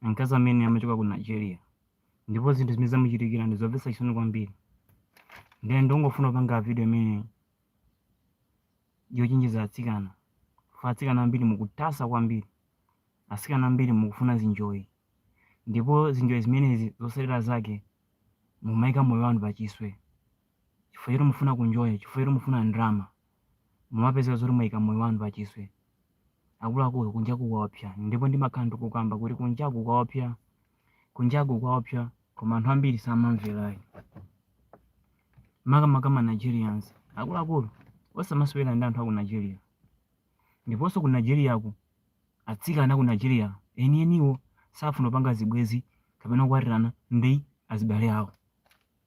Mkazi amene amachokera ku Nigeria ndipo zinthu zimene zamuchitikira ndi zomvetsa chisoni kwambiri. Ndiye ndongofuna kupanga video imene yochenjeza atsikana. Chifukwa atsikana ambiri mukutasa kwambiri. Atsikana ambiri mukufuna zinjoyi. Ndipo zinjoyi zimenezi zotsatira zake mumayika moyo wanu pa chiswe. chifukwa choti mufuna kunjoya, chifukwa choti mufuna ndrama, mumapezeka zoti mwaika moyo wanu pachiswe. Akuluakulu, kunjaku kwaopsa. Ndipo ndimakhala ndikukamba kuti kunjaku kwaopsa, kunjaku kwaopsa, koma anthu ambiri samamvera ayi. Makamaka ma Nigerians. Akuluakulu, osamasewera ndi anthu a ku Nigeria. Ndiponso ku Nigeriaku, atsikana a ku Nigeria enieniwo safuna kupanga zibwenzi kapena kukwatirana ndi azibale awo.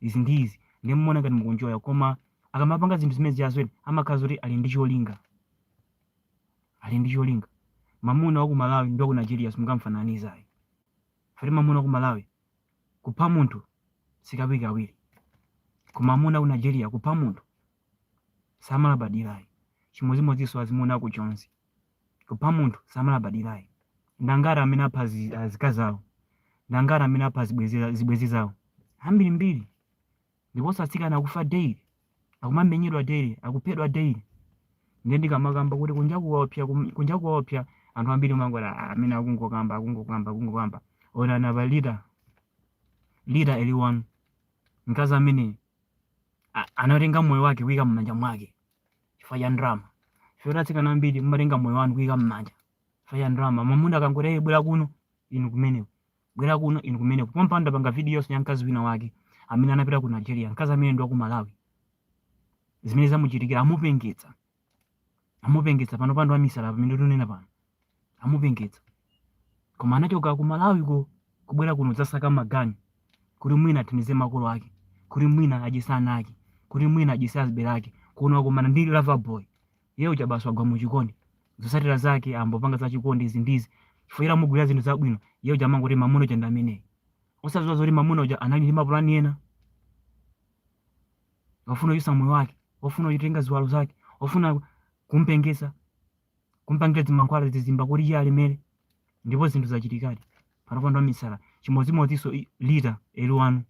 izi ndi izi ndiye mumaona ngati mukunjoya koma akamapanga zinthu zimenezi chasweni amakhala zoti ali ndi cholinga ali ndi cholinga mamuna wa ku malawi ndi wa ku nigeria simungamfananize ayi fati mamuna wa ku malawi kupha munthu sikawirikawiri koma mamuna wa ku nigeria kupha munthu samalabadira ayi chimodzimodzinso azimuna aku jonzi kupha munthu samalabadirayi ndi angati amene apha azi- azikazi awo ndi angati amene apha zibwenzi- zibwenzi zawo ambirimbiri ndiponso atsikana akufa daily akumamenyedwa daily akuphedwa daily ndiye ndikamakamba kuti kunjaku kwaopsa kum- kunjaku kwaopsa anthu ambiri mumangoti "Ah, amene akungokamba akungokamba akungokamba onani apa lita lita eliwanu mkazi amene a- anatenga moyo wake kuika m'manja mwake chifukwa cha ndalama chifukwa kuti atsikana ambiri mumatenga moyo wanu kuyika m'manja chifukwa cha ndalama mamuna akangoti "Hey, bwera kuno inu kumeneko bwera kuno inu kumeneko pompano ndapanga video-nso ya mkazi wina wake amene anapita ku nigeria mkazi amene ndi wa ku malawi zimene zamuchitikira amupengetsa amupengetsa panopa ndi wamisala pamene tunena pano amupengetsa koma anachoka ku malawiko kubwera kuno dzasaka maganyu kuti mwina athandize makolo ake kuti mwina adyese ana ake kuti mwina adyese azibale ake kuno akumana ndi lover boy iye uja basi wagwa mu chikondi zosatira zake ambopanga za chikondi izi ndizi chifukwa amugulira zinthu zabwino iye uja amangoti mamuna wanga ndi ameneyi osaziwa zoti mamuna uja anali ndi mapulani ena wafuna kuchotsa moyo wake wafuna kutenga ziwalo zake wafuna kumpengesa kumpangira zimankhwala zizimba kuti iye alemere ndipo zinthu zachitikadi panopa ndi wamisala chimodzimodzinso i- lita eli wanu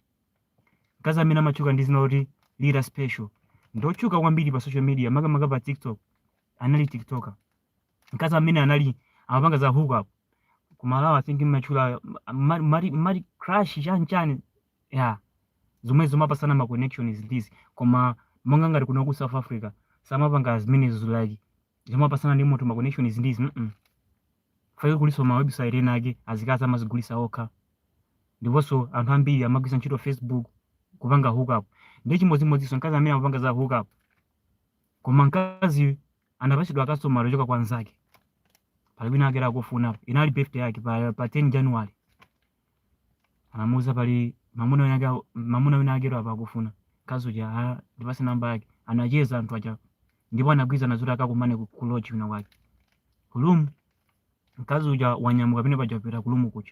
mkazi amene amatchuka ndi dzina loti lita special ndotchuka kwambiri pa social media makamaka pa tiktok anali tiktoker mkazi amene anali amapanga za hookup kumalawi i think mmatchula mali crash chanchani ya zomwe zomapasana ma connections izi ndizi koma monga ngati kuno ku south africa samapanga zimenezo zolakwika zomapasana ndi munthu ma connections izi ndizi mm fake kulinso ma website ena ake azikazi amazigulisa okha ndiponso anthu ambiri amagwiritsa ntchito facebook kupanga hookup ndi chimodzimodzinso mkazi amene amapanga za hookup koma mkazi anapatsidwa kastomala wochoka kwa nzake pali wina ake akufuna inali birthday yake pa, pa 10 january anamuuza pali mamuna wina ake mamuna wina ake apa akufuna kazi uja "Ah, ndipase namba yake anacheza anthu aja ndipo anagwirizana zoti akakumane ku- ku lodge wina wake ku room mkazi uja wanyamuka pene paja wapita ku room kuja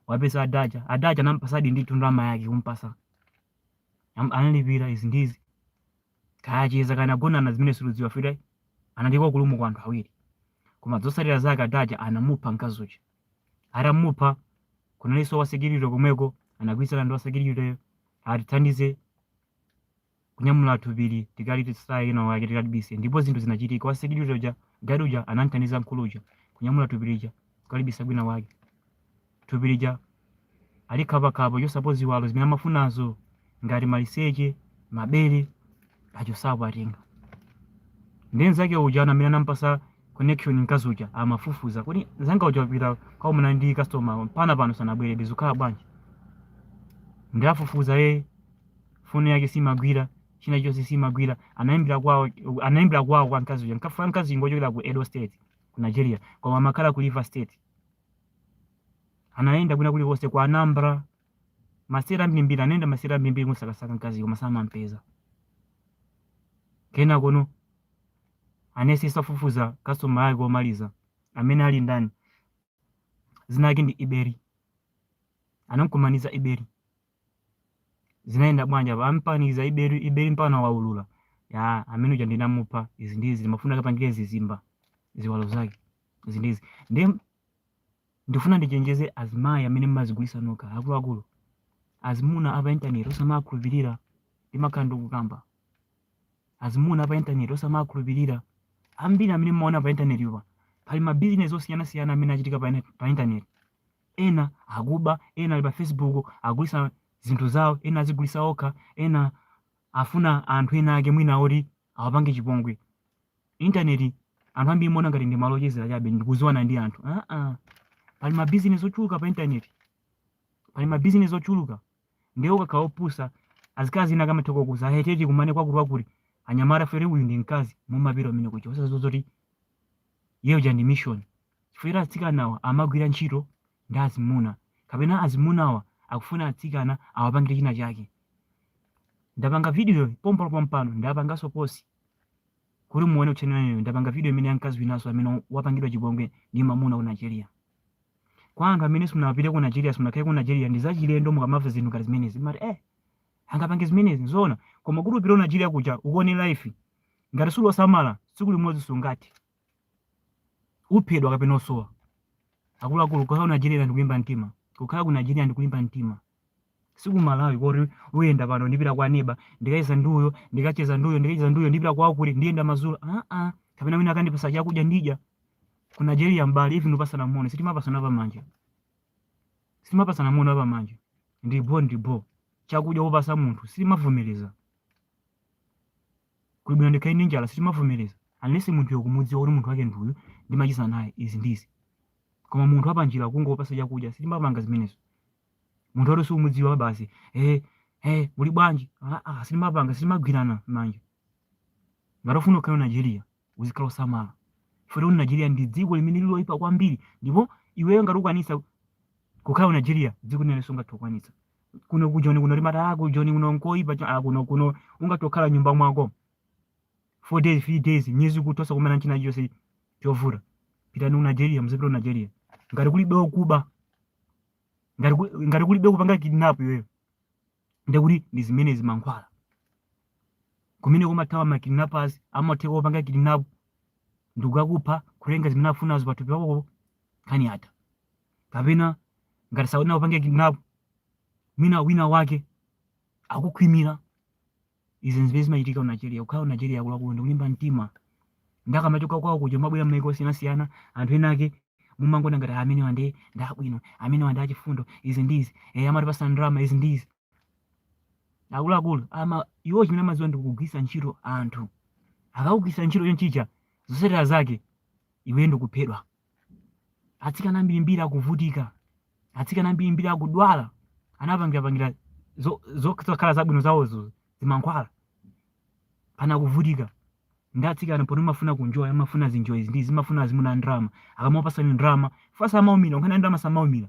wapeza adaja adaja anampasadi ndi ndalama yake kumpasa Am- analipira izi ndizi kaya anacheza kaya anagonana zimene sitikudziwa fire inalipo ku room kwa anthu awiri koma zotsatira zake adaja anamupha mkazi uja atamupha kunalinso wasekiriti komweko anagwirizana ndi wasekiritiyo atithandize kunyamula thupili tikalitaye kwina kwake tikalibise ndipo zinthu zinachitika wasekiriti uja gadi uja anamthandiza mkulu uja kunyamula thupi lija kukalibisa kwina wake thupi lija alikhapakhapa kuchosapo ziwalo zimene amafunazo ngati maliseche mabere achosapo atenga ndiye mzake uja ana amene anampasa connection mkazi uja amafufuza kuti mzanga uja wapita kukakumana ndi customer mpaka pano sanabwere zikukhala bwanji ndiye afufuza ye foni yake simagwira china chonse simagwira anaimbira kwawo anaimbira kwawo kwa mkazi uja mkafa mkazi ngochokera ku Edo State ku Nigeria koma amakhala ku River State anayenda kwina kulikonse kwa Anambra masiteti ambirimbiri anayenda masiteti ambirimbiri kumusakasaka mkazi koma samampeza kenaka no anayesesa kufufuza kasitoma yake womaliza amene ali ndani zina yake ndi iberi anamkumaniza iberi zinayenda bwanji apa ampaniza iberi iberi mpaka waulula ya amene uja ndinamupha izi ndizi ndimafuna akapangire zizimba ziwalo zake izi ndizi ndi Ndikufuna ndichenjeze azimayi amene mumazigulisa nokha akuluakulu azimuna apa internet osamakhulupirira ndimakhala ndikukamba azimuna apa internet osamakhulupirira ambiri amene mumaona pa internet yo pa pali ma business osiyanasiyana amene achitika pa, pa internet ena akuba ena ali pa facebook agulisa zinthu zawo ena azigulisa okha ena afuna anthu ena ake mwina oti awapange chipongwe intaneti anthu ambiri mumaona ngati ndi malo ochezera chabe ndikuziwana ndi anthu ah, ah. pali mabizinesi ochuluka pa intaneti pali mabizinesi ochuluka ndiye ukakhala opusa azikazi ena akamatha kukuuza kuti tikumane kwakuti wakuti anyamata fere uyu ndi mkazi mumapita umene kuja osadziwa zoti yeyo ja ndi mission chifukwa choti atsikanawa amagwira ntchito ndi azimuna kapena azimunawa akufuna atsikana awapangire china chake. Ndapanga video pompo pompano ndapanganso post kuti muone uthenga umenewu. Ndapanga video imene ya mkazi winanso amene wapangidwa chipongwe ndi mamuna ku Nigeria. Kwa anthu amene simunapite ku Nigeria, simunakhale ku Nigeria ndi zachilendo mukamamva zinthu ngati zimenezi. Mumati eh angapange zimenezi zoona koma kuti upite ku Nigeria kuja uone life ngati suli wosamala tsiku limodzi sungathe. uphedwa kapena osowa akuluakulu kukhala ku nigeria ndikulimba mtima kukhala ku nigeria ndikulimba mtima si ku malawi koti uyenda pano ndipita kwa neba ndikacheza nduyo ndikacheza nduyo ndikacheza nduyo ndipita kwawo kuti ndiyenda madzulo aa kapena wina akandipasa chakudya ndidya ku nigeria mbali even kupasana moni sitimapasana pamanja sitimapasana moni apamanja ndibho ndibho chakudya wokupasa munthu sitimavomereza kuli bwino ndikhale ndi njala sitimavomereza unless munthuyo ukumudziwa kuti munthu wake ndi uyu ndimacheza naye izi ndizi koma munthu wapanjira kungopasa chakudya sitimapanga zimenezo munthu woti siumudziwa basi eh eh muli bwanji ah, ah, sitimapanga sitimagwirana manja ngati ufuna ukhale nigeria uzikhala osamala chifukwa kuti nigeria ndi dziko limene lili loyipa kwambiri ndipo iweyo ngati ukwanisa kukhala ku nigeria dziko limene sungathe kukwanitsa kuno ku joni kuno mumati ah, ku joni kuno nkoyipa cho- ah, kuno kuno ungathe kukhala nyumba mwako four days three days nyezi kutosa kukumana nchina chonse chovuta pitani ku nigeria muzipita ku nigeria ngati kulibe okuba ngati kuli- ngati kulibe kupanga kidnap iweyo ndekuti ndi zimene zimankhwala kumene kumathawa ma kidnappers amatheka kukupanga kidnap ndikukakupha kutenga zimene afunazo pathupi pakopo nkhani yatha kapena ngati sakuna kupange kidnap mwina wina wake akukhwimira izi nzimene zimachitika ku nigeria kukhala ku nigeria akuluakulu ndi kulimba mtima ndi akamachoka kwawo kuja kumabwera m'maiko osiyanasiyana anthu ena ake mumangoona ngati "Ah, amenewa ndi ndi abwino amenewa ndi achifundo izi ndi izi eh, amatipasa ndalama izi ndi izi akuluakulu iwo chimene amadziwa ndi kugwiritsa ntchito anthu akakugwiritsa ntchito chonchicha zotsatira zake iwe ndikuphedwa atsikana ambirimbiri akuvutika atsikana ambirimbiri akudwala anapangirapangira zo- zo- zokhala zabwino zawozo zimankhwala pano akuvutika ndi atsikana poti amafuna kunjoya amafuna zinjoyi izi ndi izi amafuna azimuna ndrama akamapasani ndrama fukwa samaumira nkhani ya ndrama samaumira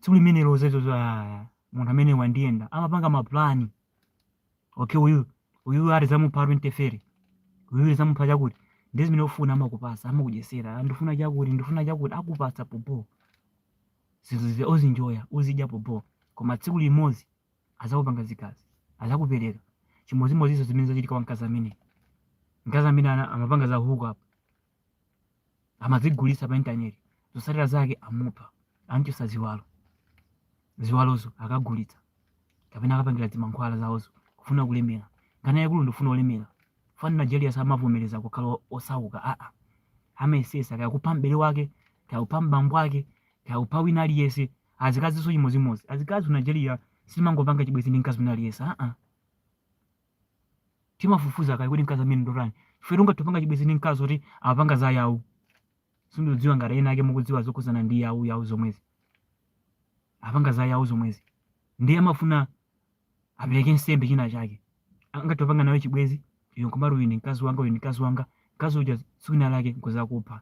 tsiku limene lozezo za munthu amene wandiyenda amapanga mapulani okay uyu uyu tizamupha 20 fere uyu tizamupha chakuti nde zimene ufuna amakupasa amakudyesera ndifuna chakuti ndifuna chakuti akupasa popo zinthu zija uzinjoya uzidya popo koma tsiku limodzi azakupanga zikazi azakupereka chimodzimodzinso zimene zachitika kwa mkazi amene mkazi amene ana- amapanga za huku apo amazigulitsa pa intaneti zotsatira zake amupha amchotsa ziwalo ziwalozo akagulitsa kapena akapangira zimankhwala zawozo kufuna kulemera nkhani yaikulu ndikufuna kulemera chifukwa m'nigeria samavomereza kukhala osauka aa amayesesa kaya kupha m'bale wake kaya kupha mbambo wake kaya kupha wina aliyense azikazinso chimodzimodzi azikazi ku nigeria simangopanga chibwenzi ndi mkazi wina aliyense aa timafufuza kaye kuti mkazi amene ndotani chifukwa tungatopanga chibwezi ndi mkazi oti amapanga za yahoo sindidziwa ngati ena ake mukudziwa zokhudzana ndi yahoo yahoo zomwezi apanga za yahoo zomwezi ndiye amafuna apereke nsembe china chake angatopanga nawe chibwezi iwe nkumati uyu ndi mkazi wanga uyu ndi mkazi wanga mkazi uja tsiku lina lake nkuzakupha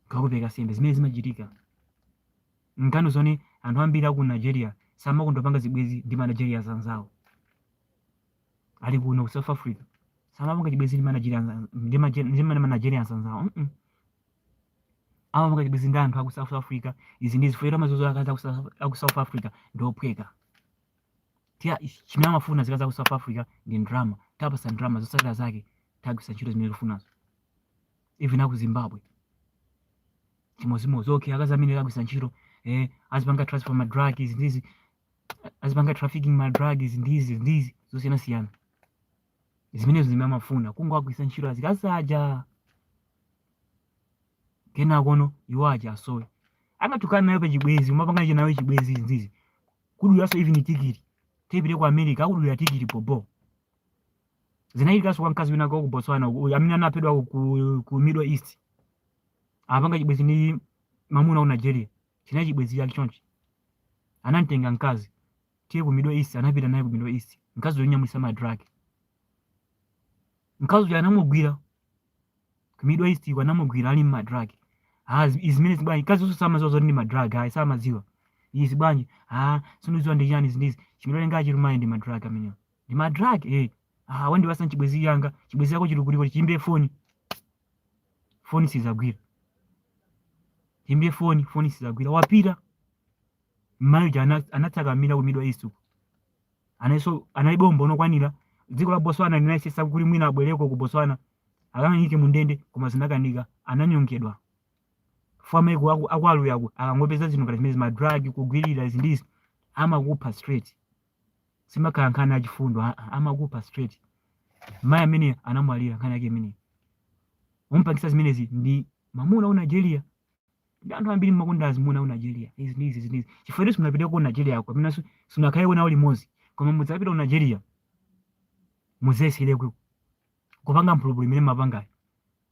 kukakupereka nsembe zimene zimachitika nkhani zone anthu ambiri aku nigeria samakonda kupanga zibwezi ndi ma nigerians anzawo ali kuno ku south africa samapanga chibwezi ndi manigeria anza- ndi maje- ndi mane manigerians anzawo mm amapanga chibwezi ndi anthu aku south africa izi ndi izi chifukwa amaziwa zoti akazi aku South- aku south africa ndi ophweka tiya chimene amafuna azikazi aku south africa ndi ndrama tiwapasa ndrama zosatira zake tiwagwiritsa ntchito zimene tikufunazo even aku zimbabwe chimozimozi okay akazi amene awagwiritsa ntchito eh, azipanga transfer madrugs ndizi azipanga trafficking ma drugs ndizi ndizi zosiyana siyana zimenezo zimene amafuna kungowagwiritsa ntchito azikazi aja kenakono iwo aja asowe angatokhala nawe pachibwezi kumapanga icho nawe chibwezi ndizi kudulaso even tikiti tipite ku america akudulira tikiti bobo zinachitikaso kwa mkazi wina kwa ku botswana uku- amene anaphedwa ku, ku middle east apanga chibwezi ndi mamuna waku nigeria chinali chibwenzi chake chonchi anamtenga mkazi tiye ku middle east anapita naye ku middle east mkazi amunyamulisa ma drug mkazi uja anamugwira ku middle east uko anamugwira ali ma drug ah zi- izi zimene zibwanji mkazi ujaso samaziwa zoti ndi ma drug ayi samaziwa izi bwanji ah sindiziwa ndi chani zindizi chimene ngachi lumayi ndi ma drug amenewa ndi ma drug eh ah wandipasa chibwenzi changa chibwenzi chako chili kutiko chiyimbe foni foni sizagwira tiyimbe foni foni sizagwira wapita mmayi uja ana- anatsakamira ku middle east uko anaiso analibe umboni okwanira dziko la botswana linayesesa kuti mwina abwereko ku botswana akamuyike mu ndende koma zinakanika ananyongedwa chifukwa maiko aku aku aluyako akangopeza zinthu ngati zimenezi madrug kugwirira izi ndi izi amakupha straight simakhala nkhani yachifundo aa amakupha straight mayi amene anamwalira nkhani yake imeneyi ompangisa zimenezi ndi mamuna waku nigeria ndiye anthu ambiri mmakonda azimuna aku nigeria izi ndi izi zinizi chifukwa inu simunapite ku nigeriako kapena su- simunakhaleko nawo limodzi koma mudzapita ku nigeria muzayesere ku- kupanga mphulupulu imene mmapangayo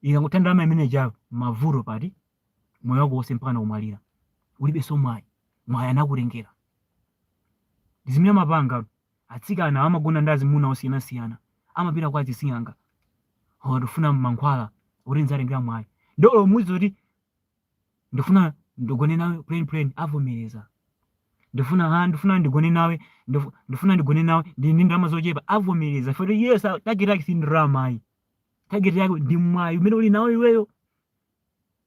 ikakutha ndalama imene ijayo mavuto basi moyo wako wonse mpaka nakumwalira ulibenso mwayi mwayi anakutengera ndi zimene amapanga atsikana amagona ndi azimuna osiyanasiyana amapita kwa azising'anga awa ndifuna mankhwala kuti ndzatengera mwayi nde olo muziti kuti ndifuna ndigone nawe plain plain avomereza ndifuna ha ndifuna ndigone nawe ndifu- ndifuna ndigone nawe ndi ndi ndalama zochepa avomereza futi iye sa- target yake si ndalama ayi target yake ndi mwayi umene uli nawo iweyo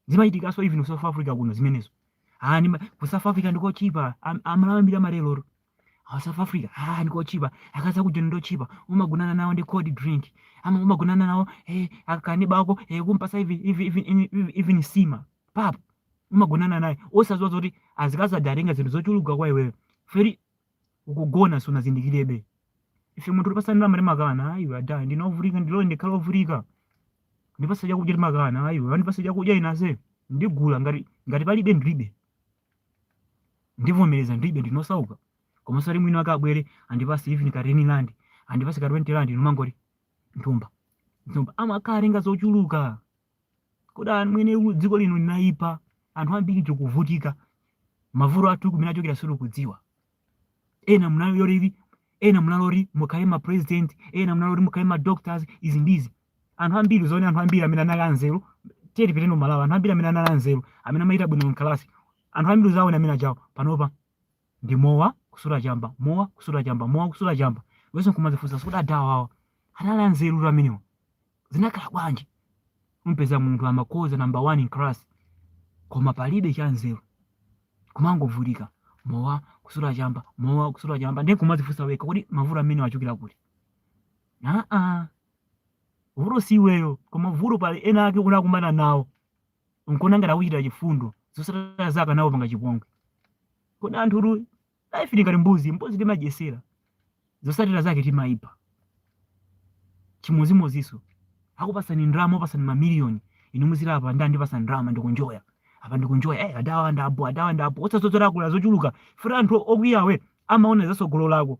zimachitikanso even ku south africa kuno zimenezo ah, nima, ku south africa ndikochipa Am- amalawi ambiri amalero ah, south africa ah, ndikochipa akazi akujoni ndochipa umagonana nawo ndi cold drink ama umagonana nawo eh, akangoba ako eh, kumpasa even, even, even, even, even nsima pap umagonana naye osaziwa zoti azikazi adatenga zinthu zochuluka kwa iweyo feri ukugona sunazindikirebe ife munthu kutipasa ndalama timakana ayi adha ndinovutika ndilole ndikhala ovutika ndipasa chakudya timakana ayi andipasa chakudya inenso ndigula ngati ngati palibe ndilibe ndivomereza ndilibe ndinosauka koma sizili bwino akabwere andipase even ka 10 rand andipase ka 20 rand numangoti mthumba mthumba amakhala atenga zochuluka kodi amwene u- dziko lino linayipa anthu ambiri tikuvutika mavuto athu kumene achokera sitikudziwa ena munaloti ena munaloti mukhale ma president ena munaloti mukhale ma doctors izi ndizi anthu ambiri zoona anthu ambiri amene anali anzeru tiyeni pitani malawi anthu ambiri amene anali anzeru amene amachita bwino mkalasi anthu ambiri uzaona amene ajawo panopa ndi mowa kusuta chamba mowa kusuta chamba mowa kusuta chamba iwenso nkumazifunsa si kuti adhawa awa anali anzeru amenewa zinakhala bwanji umpeza munthu amakhoza number one in class koma palibe chanzeru kumangovutika mowa kusuta chamba mowa kusuta chamba ndiye kumazifunsa weka kodi mavuto amenewa achokera kuti aa vuto si iweyo koma vuto pali ena ake unakumana nawo nkuona ngati akuchitira chifundo zosatira zake anakupanga chipongwe kodi anthu inu life ili ngati mbuzi mbuzi timadyesera zosatira zake timayipha chimodzimodziso akupasani ndalama akupasani mamiliyoni inu muziti apa nde andipasa ndalama ndikunjoya apa ndikunjoya eh adhawa ndabho adhawa ndabho osaziwa zoti akutolera zochuluka futi anthu okhwimawa amaona zasogolo lako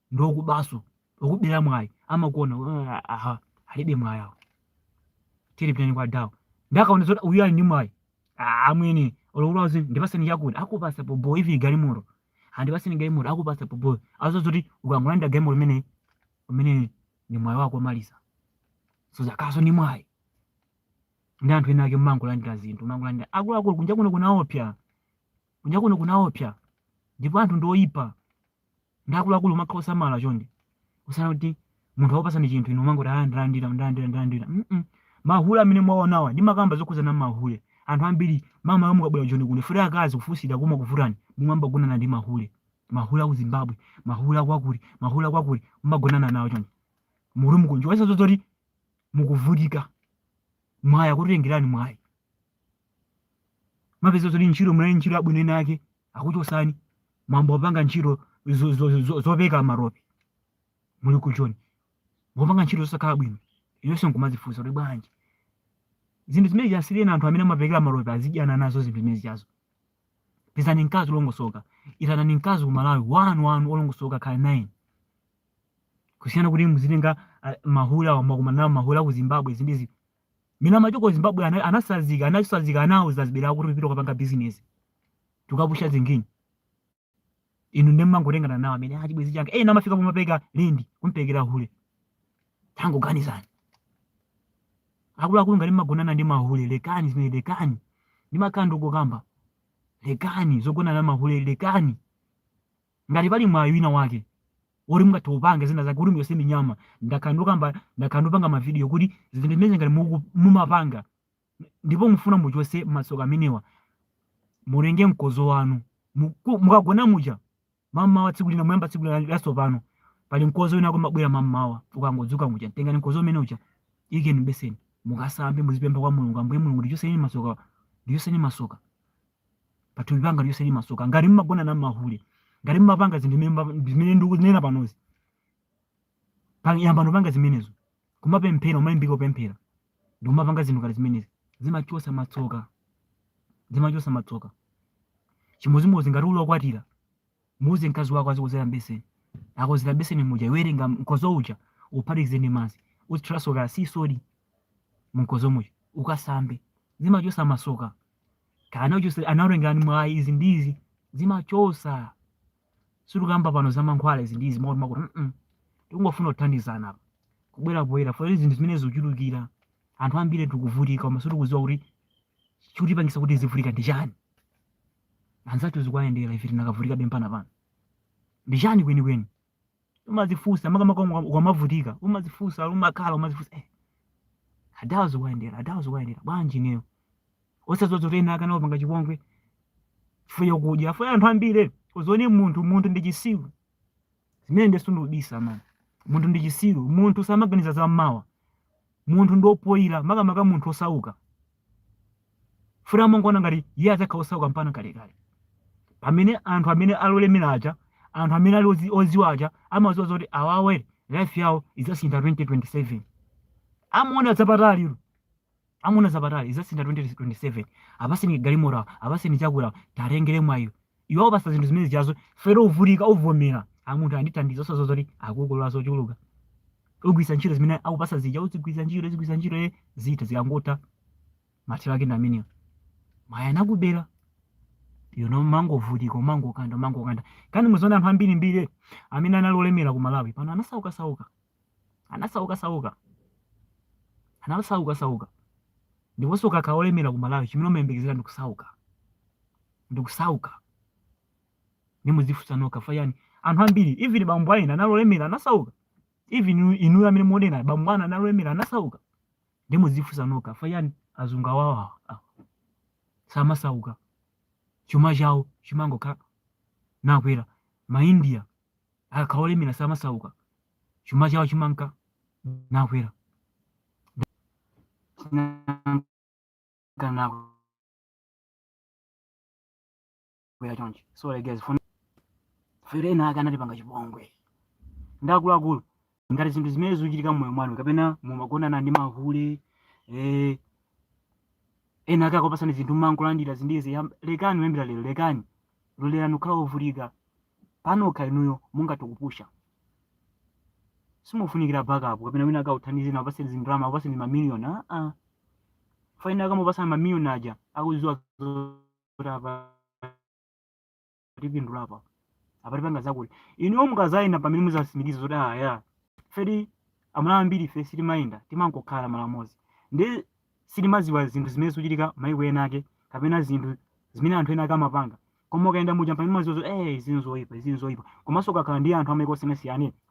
ndi okubanso okubera mwayi amakuona "Ah, aha alibe mwayi awo tiri pitani kwa adhawo nde akaona zoti uyu ali ndi mwayi "Ah, amwene olokulazi ndipaseni chakuti akupasa bhobho even galimoto andipaseni galimoto akupasa bhobho osaziwa zoti ukangolandira galimoto umene umene ndi mwayi wako omaliza so zakozo ndi mwayi ndi anthu ena ake mmangolandira zinthu mmangolandira akuluakulu kunja kuno kunaopsa Kunja kuno kunaopsa ndipo anthu ndi oyipa ndi akuluakulu umakhala osamala chonde kusiyana kuti munthu akupasani chinthu inu umangoti ah ndalandira ndalandira ndalandira mm -mm. mahule amene mwaonawa ndimakamba zokhuzana mahule anthu ambiri mma- mukabwera joni kuno futi akazi kufunsira ukumakuvutani mumayamba kugonana ndi mahule mahule aku zimbabwe mahule akwakuti mahule akwakuti mumagonana nawo chonde muli mukunjoyesa zozoti mukuvutika mwayi akutengerani mwayi mmapeza zoti ntchito munali pa ntchito yabwino ina yake akuchosani mwayamba kupanga ntchito zo- zo- zo- zopereka maropi muli ku joni mwapanga ntchito zosakhala bwino inonso nkumazifunsa kuti bwanji zinthu zimenezo asiyireni anthu amene amapereka maropi azidyana nazo zinthu zimenezi izo pezani mkazi olongosoka itanani mkazi ku malawi wanu wanu olongosoka khala naye kusiyana kuti muzitenga ah, mahule wa mmakumana nawo mahule aku zimbabwe izi ndi izi ena amachoka ku zimbabwe ana- anasanzika anasanzika kwawo zazibera kuti pita ukapange bizinesi tukapusha zingini inu nde mmangotengana nawo amenewa chibwenzi changa ena amafika pomapereka lendi kumperekera hule tangoganizani akuluakulu ngati mmagonana ndi mahule lekani zimenezo lekani ndimakonda kukamba lekani zogonana mahule lekani Ngati pali mwayi wina wake woti mungathe kupanga zina zake kuti muchose minyama ndakhala ndikukamba ndakhala ndikupanga mavidiyo kuti zinthu zimene ngati muku- mumapanga ndipo mufuna muchose matsoka amenewa mutenge mkozo wanu Muku- mukagona muja mammawa tsiku lina muyamba tsiku lina latsopano pali mkozo wina umabwera mammawa ukangodzuka muja tengani mkozo umene uja ikani mbeseni mukasambe muzipempha kwa mulungu ambuye mulungu ndichoseni masoka ndichoseni masoka pa thupi panga ndichoseni masoka ngati mmagonana ndi mahule ngati mmapanga zinthu zimene mma- zimene ndikunena panozi Pa- yambani kupanga zimenezo kumapemphera kumalimbika kupemphera ndi kumapanga zinthu ngati zimenezi zimachosa matsoka zimachosa matsoka chimodzimodzi ngati uli okwatira muuze mkazi wako azikozera mbeseni akozera mbeseni muja iwe tenga mkozo uja uphatikize ndi madzi uzithiranso kaya ndi soda mkozo muja ukasambe zimachosa masoka kaya anakuchotsa anakutengerani mwayi izi ndi izi zimachosa sitikukamba pano za mankhwala izi ndi izi makuti makuti mm tikungofuna kuthandizana apa kubwera poyera poti zinthu zimenezo zikuchulukira anthu ambiri tikuvutika koma sitikudziwa kuti chikutipangisa kuti tizivutika ndi chani anzathu zikuwayendera ife tinakavutika be mpaka pano ndi chani kwenikweni umazifunsa makamaka uka- ukamavutika umazifunsa umakhala umazifunsa eh, adawa zikuwayendera adawa zikuwayendera bwanji ineyo osadziwa zoti ena ake anakupanga chipongwe chifukwa chakudya chifukwa anthu ambiri uzione munthu munthu ndi chisiru zimenezo sindikubisa mani munthu ndi chisiru munthu samaganiza za mmawa munthu ndi opoira makamaka munthu osauka Chifukwa amangoona ngati iye adzakhala osauka mpakana kalekale. Pamene anthu amene ali olemera aja, anthu amene ali ozi- oziwa aja amaziwa zoti awawa life yawo idzasintha 2027. Amaona zapatali ilo. Amaona zapatali idzasintha 2027. Apaseni galimoto awo, apaseni chakudya awo, tiwatengere mwayiwo. iwe akupasa zinthu zimenezijazo chifukwa choti uvutika uvomera aa munthu andithandiza osaziwa zoti akukolola zochuluka ugwisa ntchito zimene akupasa zija uzigwisa ntchito uzigwisa ntchito ye zitha zikangotha mathero ake ndi amenewo mwayi anakubera yona umangovutika umangokanda umangokanda nkani muziona anthu ambirimbiri amene anali olemera ku malawi pano anasauka sauka anasauka sauka anasauka sauka ndiponso ukakhala olemera ku malawi chimene umayembekezera ndi kusauka ndi kusauka ndiye mudzifunsa nokha chifukwa chani anthu ambiri even bambo aena anali olemera anasauka even inu- inuyo amene muonera bambo anu anali olemera anasauka ndiye mudzifunsa nokha chifukwa chani azungu awawa awa samasauka chuma chawo chimangokhala nakwera maindia akakhala olemera samasauka chuma chawo chimanka nakwera nakwera chonchi so like guys chifukwa choti ena ake anatipanga chipongwe ndi akuluakulu ngati zinthu zimene zikuchitika mmoyo mwanu kapena mumagonana ndi mahule eh, ena ake akupasani zinthu mumangolandira zinthuzi yam- lekani kuyambira lero lekani lolerani kukhala ovutika panokha inuyo mungathe kupusha simufunikira backup kapena wina akakuthandizeni akupaseni zindalama akupaseni mamiliyoni aa chifukwa ena akamakupasani mamiliyoni aja akuziwa zoti apa tipindula apa apa tipanga zakuti inuyo mukazayenda mpamene muzasimikiza zoti eya chifukwa choti amalawi ambiri ife sitimayenda timangokhala malo amodzi ndi sitimaziwa zinthu zimene zikuchitika maiko ena ake kapena zinthu zimene anthu ena ake amapanga koma ukayenda muja mpamene umaziwa zoti eh izi nzoyipa izi nzoyipa komanso ukakhala ndi anthu amaiko osiyanasiyana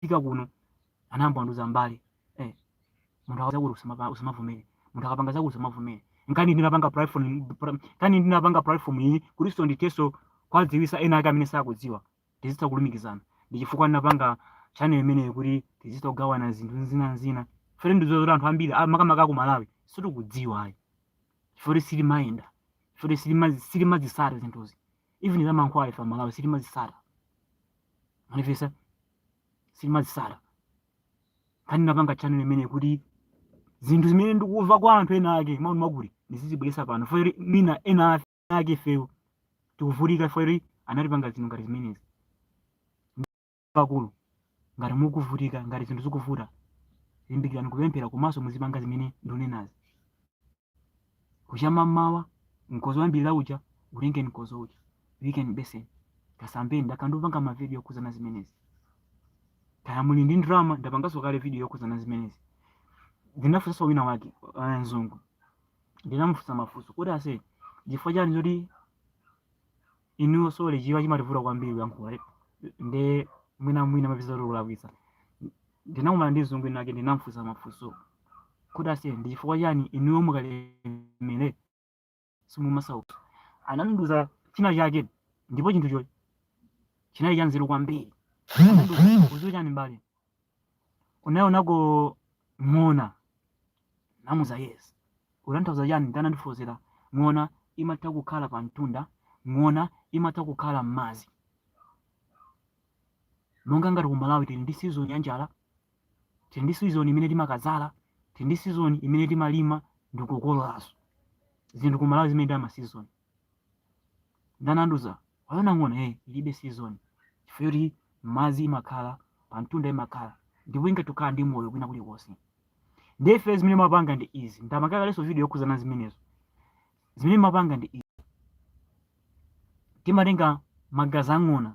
fika kuno anayamba kundiuza mbale eh, munthu akaza kuti usamapa- usamavomere munthu akapanga zakuti usamavomere nkani ndinapanga platform pra- nkani ndinapanga platform iyi kutinso ndithenso kuwadziwisa ena ake amene sakudziwa tizitha kulumikizana ndi chifukwa ndinapanga channel imeneyo kuti tizitha kugawana zinthu zina zina chifukwa choti ndiziwa zoti anthu ambiri ah, makamaka ku malawi sitikudziwa ayi chifukwa kuti sitimayenda chifukwa kuti sitima- sitimazisata zinthuzi even zamankhwala ife amalawi sitimazisata manifesta sitimazisata nkani ndinapanga channel imeneyi kuti zinthu zimene ndikuva kwa anthu ena ake mawu makuti ndizizibweresa pano chifukwa choti mwina ena ake ifewo tikuvutika chifukwa choti anatipanga zinthu ngati zimenezi pakulu ngati mukuvutika ngati zinthu zikuvuta limbikirani kupemphera komanso muzipanga zimene ndikunenazi kudzuka mmawa mkozo wambiri uja utenge mkozo uja uyike mu beseni kasambeni ndakhala ndikupanga mavidiyo okhudzana zimenezi kaya muli ndi ndalama ndapanganso kale vidiyo yokhudzana zimenezi ndinafunsa wina wake eh, mzungu ndinamufunsa mafunso kuti ase chifukwa chani choti inuyo sorry chichewa chimandivuta kwambiri kuyankhula eh, nde mwina mwina ndimatha kulakwitsa ndinakumana ndi mzungu winawake ndinamfunsa mafunso kuti ase ndi chifukwa chani inuyo mukalemera simumasauka anandiuza china chake ndipo chinthucho chinali chanzeru kwambiri anandiuza udziwe chani mbale unaonako ng'ona ndamuuza yes ukutanthauza chani nde anandifotokozera ng'ona imatha kukhala pa mtunda ng'ona imatha kukhala m'madzi monga ngati kumalawi tili ndi sizoni ya njala tili ndi sizoni imene timakadzala tili ndi sizoni imene timalima ndikukololanso zinthu kumalawi zimenezo ndi masizoni nde anandiuza waona ng'ona eh, ilibe season chifukwa choti m'madzi imakhala pa mtunda imakhala ndipo ingathe kukhala ndi moyo kwina kulikonse ndiye ife zimene timapanga ndi izi ndapanga kalenso video yokhudzana zimenezo zimene timapanga ndi izi timatenga magazi a ng'ona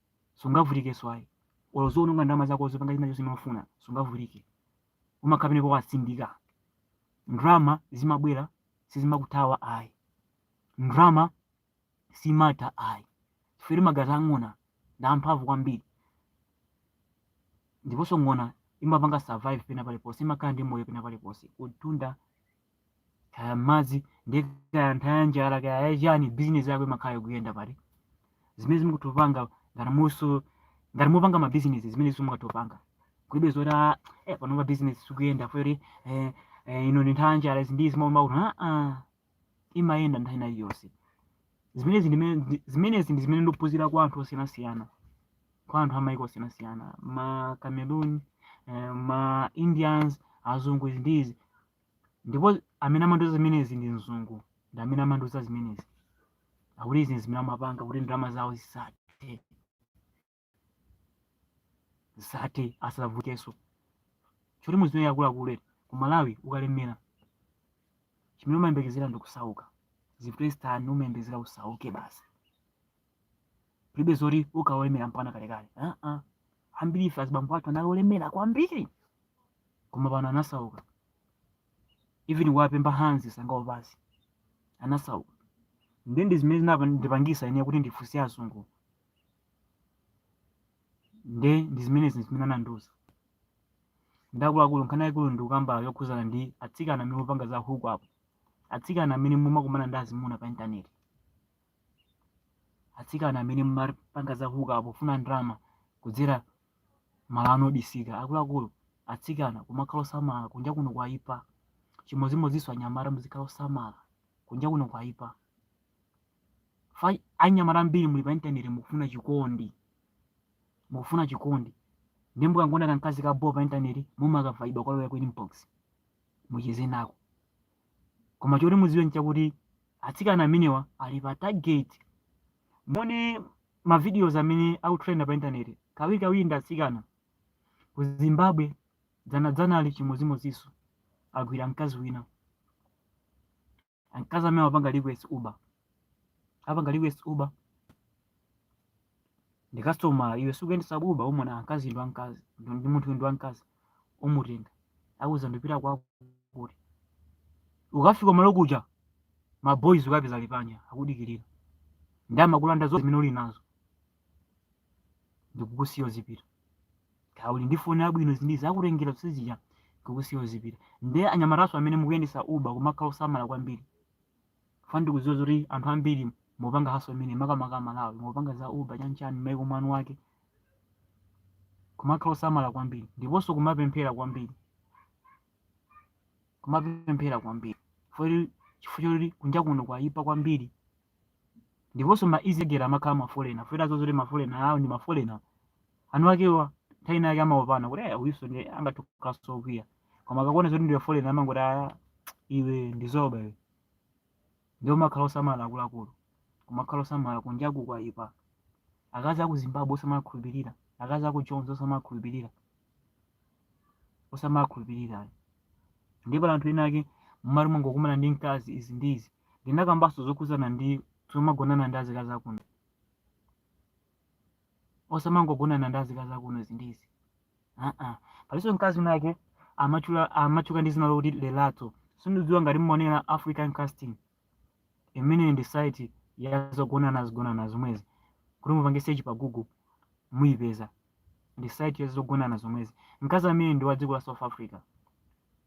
sungavutikenso ayi olo uziwononga ndalama zako uzipanga china chilichonse umafuna sungavutike umakhala penapake watsindika ndalama zimabwera sizimakuthawa ayi ndalama simatha ayi chifukwa magazi a ng'ona ndi amphamvu kwambiri ndiponso ng'ona imapanga survive pena paliponse imakhala ndi moyo pena paliponse kumtunda kaya m'madzi nde kaya nthawi ya njala kaya yachani bizinesi yako imakhala yokuyenda pali zimene mukuyenera kupanga ngati muso ngati mukupanga mabizinesi zimene simungatopanga kulibe zoti "Ah, eh, panopa bizinesi sikuyenda poti eh, eh, ino ndi nthawi yanjala izi ndi zimaomba kuti aa imayenda nthawi ina iliyonse zimenezi ndimene ndi- zimenezi ndi zimene ndikuphunzira kwa anthu osiyanasiyana kwa anthu amayiko osiyanasiyana ma cameroon eh, ma indians azungu izi ndi izi ndipo amene amandiuza zimenezi ndi mzungu ndi amene amandiuza zimenezi akuti izi ndi zimene amapanga kuti ndalama zawo zisathe zisathe asasaukenso choti mudziwe akuluakulu eti ku malawi ukalemera chimene umayembekezera ndi kusauka zivute zitani umayembekezera usauke basi kulibe zoti ukhala wolemera mpaka kalekale Ah, ah. ambiri ife azibambo athu analemera kwambiri koma pano anasauka even kuwapempha hanzi sangawo basi anasauka ndi ndi zimene zinandipangisa ine kuti ndifunse azungu nde ndi zimenezi zimene anandiuza nde akuluakulu nkhani yaikulu ndikukamba yokhudzana ndi atsikana amene mupanga za hookup atsikana amene mumakumana ndi azimuna pa intaneti atsikana amene mumapanga za hookup pofuna ndalama kudzera malo anu obisika akuluakulu atsikana kumakhala osamala kunja kuno kwaipa chimodzimodzinso anyamata muzikhala osamala kunja kuno kwaipa fa anyamata ambiri muli pa intaneti mukufuna chikondi mukufuna chikondi ndi mukangoona kamkazi ka boo pa intaneti mumakavaya kukalowa ku inbox mucheze nako koma choti mudziwe nchakuti atsikana amenewa ali pa target muone mavideos amene akutrenda pa intaneti kawirikawiri ndi atsikana ku zimbabwe dzanadzana ali chimodzimodzinso agwira mkazi wina mkazi amene apanga request uber apanga request uber ndi customer iwe si ukuyendesa uber umaona mkazi ndi wamkazi ndi ndi munthu ndi wamkazi umutenga akuuza ndipita kwakuti ukafika malo kuja ma boys ukapeza ali panja akudikirira ndi amakulanda zonse zimene uli nazo ndikukusiya uzipita kaya uli ndi foni yabwino izi ndi izi akutengera zonse zija ndikukusiya uzipita nde anyamataso amene mukuyendesa uber kumakhala osamala kwambiri chifukwa ndikuziwa zoti anthu ambiri mupanga hustle imene makamaka amalawi mupanga za uber chanchani maiko mwanu wake kumakhala osamala kwambiri ndiponso kumapemphera kwambiri kumapemphera kwambiri foti chifukwa choti kunja kuno kwayipa kwambiri ndiponso ma isigela amakhala mafolena for the reason zoti mafolena awo ndi mafolena eniakewa nthawi ina yake amaopana kuti "Eh, uyuso ndi angathe kukhalanso okwiya koma akakuona zoti ndiwe folena amangoti "Ah, iwe ndi zoba iwe ndiye kumakhala osamala akuluakulu kumakhala osamala kunjaku kwaipa akazi aku zimbabwe osamakhulupirira akazi aku joni osamakhulupirira osamakhulupirira ayi ndiye pali anthu ena ake mmalo mongokumana ndi mkazi izi ndi izi ndinakambanso zokhudzana ndi zomagonana ndi azikazi akuno osamangogonana ndi azikazi akuno izi ndi izi aa palinso mkazi wina ake amatchula amatchuka ndi zina lokuti lelato sindikudziwa ngati mmaonera african casting imene ndi site ya zogonana zogonana zomwezi kuti mupange search pa google muyipeza ndi site ya zogonana zomwezi mkazi amene ndi wa dziko la south africa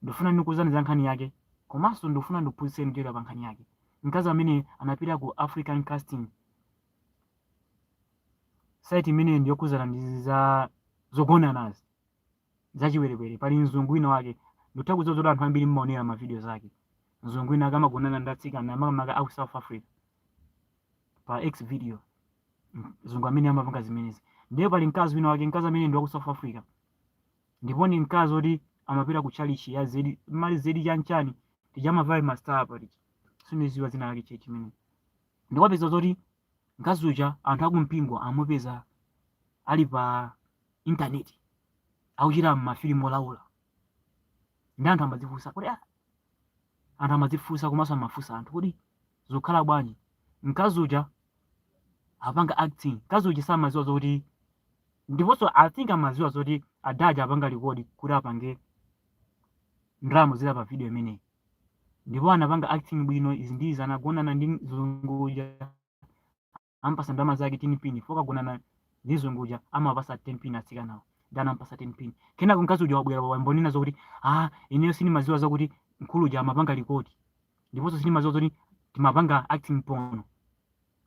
ndikufuna ndikuuzani za nkhani yake komanso ndikufuna ndikuphunzitseni kuchokera pa nkhani yake mkazi amene anapita ku african casting site imene ndi yokhudzana ndi za zogonanazi zachiwerewere pali mzungu wina wake ndikutha kudziwa zoti anthu ambiri mmaonera mavidiyo zake mzungu wina akamagonana ndi atsikana makamaka aku south africa pa x video mzungu amene amapanga zimenezi ndiye pali mkazi wina wake mkazi amene ndi wa ku south africa ndipo ndi mkazi oti amapita ku chalichi ya zedi ma zedi chanichani tija amavala mastar apa tija sindiziwa dzina lake chechi imene ndikupeza zoti mkazi uja anthu akumpingo amupeza ali pa intaneti akuchita mafilimu olaula ndi anthu amadzifunsa kodi ah, anthu amadzifunsa komanso amafunsa anthu kodi zukhala bwanji mkazi uja apanga acting mkazi uja samaziwa zoti ndiponso i think amaziwa zoti ada aja apanga rekodi kuti apange ndalama zili pa video imeneyi ndipo anapanga acting bwino izi ndi izi anagonana ndi mzungu uja amupasa ndalama zake 10 pin chifukwa kagonana ndi mzungu uja amawapasa 10 pin atsikanawo nde anamupasa 10 pin kenako mkazi uja wabwera wayamba kunena zokuti ah ineyo sindimadziwa zakuti mkulu uja amapanga rekodi ndiponso sindimadziwa zoti timapanga acting pono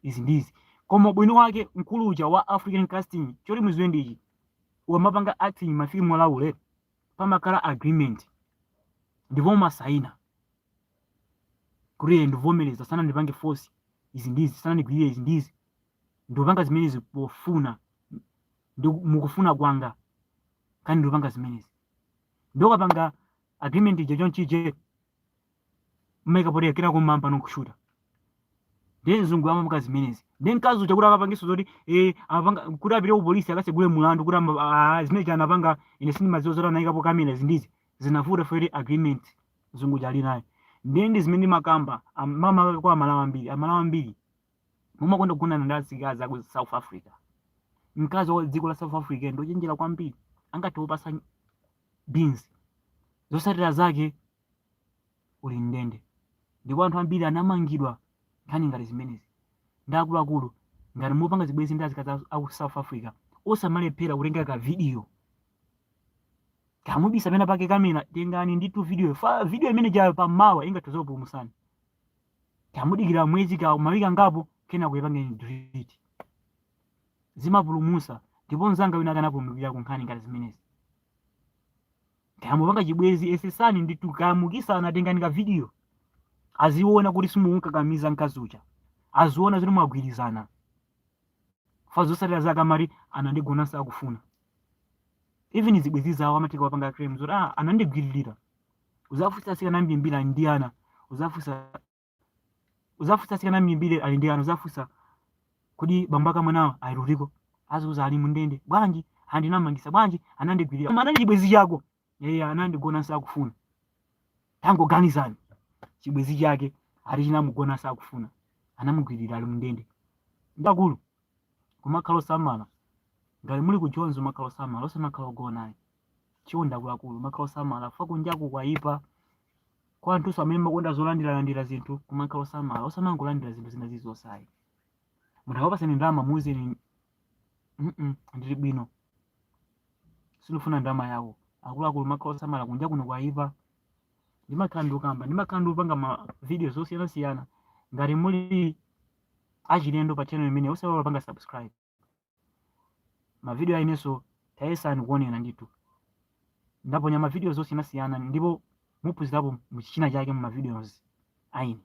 izi ndizi koma ubwino wake mkulu uja wa african casting choti muziwe ndichi ukamapanga acting mafilimu olaula pamakhala agreement ndipo umasaina kuti ee ndikuvomereza sanandipange force izi ndizi sanandigwirire izi ndizi ndikupanga zimenezi pofuna mukufuna kwanga kani ndikupanga zimenezi nde ukapanga agreement ija chonchije mmaika potera kamera kumayamba kushuta ndiye mzungu amapanga zimenezi ndi mkazi uja kuti akapangiso zoti eh, apanga kuti apite kupolisi akasegule mulandu kuti ama- ah, zimene anapanga ine sindimadziwa zoti anayikapo kamera izi ndi izi zinavuta fere agreement mzungu uja ali nayo ndiye ndi zimene ndimakamba am- mama kwa amalawi ambiri amalawi ambiri mumakonda kugonana ndi azikazi aku south africa mkazi wa dziko la south africa ndi ochenjera kwambiri angathe kupasa beans zosatira zake uli mundende ndipo anthu ambiri anamangidwa nkhani ngati zimenezi ndi akuluakulu ngati mupanga zibwenzi ndi azikazi aku south africa osamalephera kutenga ka video kamubisa pena pake kamera tengani ndithu video fa video imene ijayo pamawa ingathoza kupulumusani kamudikira mwezi ka mawiki angapo kenako ipangeni delete zimapulumusa ndipo mzanga wina wake anapulumukira ku nkhani ngati zimenezi kamupanga chibwezi yesesani ndithu kamukisana tengani ka video aziona kuti simukukakamiza mkazi uja aziona zoti mwagwirizana fa zosatira zake amati anandigonanso akufuna even zibwezi zawo amatika wapanga claim zoti ah, anandigwiririra uzafunsa asikana ambimbiri ali ndi ana uzafunsa uzafunsa asikana ambimbiri ali ndi ana uzafunsa kodi bambo ake a mwanawo ali kutiko azauza ali mundende bwanji ndinamangisa bwanji anandigwirira koma anali chibwezi chako eya anandigona sindikufuna tangoganizani chibwenzi chake ati chinamugona sakufuna anamugwirira ali mndende nde akulu kumakhala osamala ngati muli ku jonzi kumakhala osamala osamakhala ogona ayi chifukwa nde akuluakulu kumakhala osamala fa kunjaku kwayipa kwa anthuso amene mumakonda zolandiralandira zinthu kumakhala osamala osamangolandira zinthu zina zilizonse ayi munthu akakupasani ndalama muuzeni "Mm-mm, ndili bwino sindikufuna ndalama yako akuluakulu kumakhala osamala kunja kuno kwayipa ndimakhala ndikukamba ndimakhala ndikupanga ma video zosiyanasiyana ngati muli achilendo pa channel imeneyi osaiwala kupanga subscribe mavidiyo ayineso tayesani kuonera ndithu ndaponya mavidiyo zosiyanasiyana ndipo muphunzirapo china chake mu mavidiyozi ayine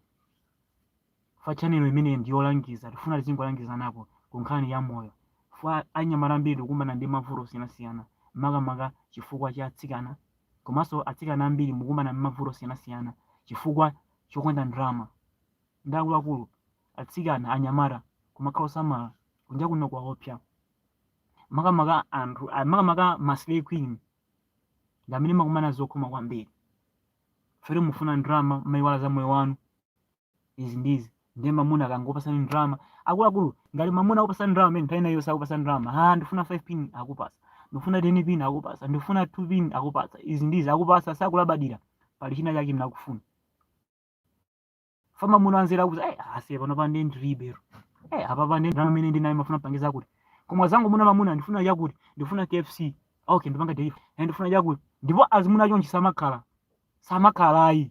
fa chanelo imeneyi ndi yolangiza tifuna tizingolangizanapo ku nkhani ya moyo fa anyamata ambiri tikukumana ndi mavuto osiyanasiyana makamaka chifukwa cha atsikana komanso atsikana ambiri mukumana ndi mavuto osiyanasiyana chifukwa chokonda ndalama nde akuluakulu atsikana anyamata kumakhala osamala kunja kuno kwaopsa makamaka anthu ah, makamaka ma slay queen ndi amene mumakumana zokhoma kwambiri fa mufuna ndalama mmayiwala za moyo wanu izi ndi izi ndiye mamuna akangokupasani ndalama akuluakulu ngati mamuna akupasani ndalama amene nthawi inayonse akupasani ndalama ha ndifuna 5 pin akupasa ndifuna 10 pin akupasa ndifuna 2 pin akupasa izi ndi izi akupasa osakulabadira pali china chake amene akufuna fa mamuna wanzeru kuti eh asiye pano pa nde ndilibe lero eh apapa nde ndalama imene ndili nayo ndimafuna kupangira kuti koma zangu muna mamuna ndifuna chakuti ndifuna KFC okay ndipanga delivery and ndifuna chakuti ndipo azimuna chonchi samakhala samakhala ayi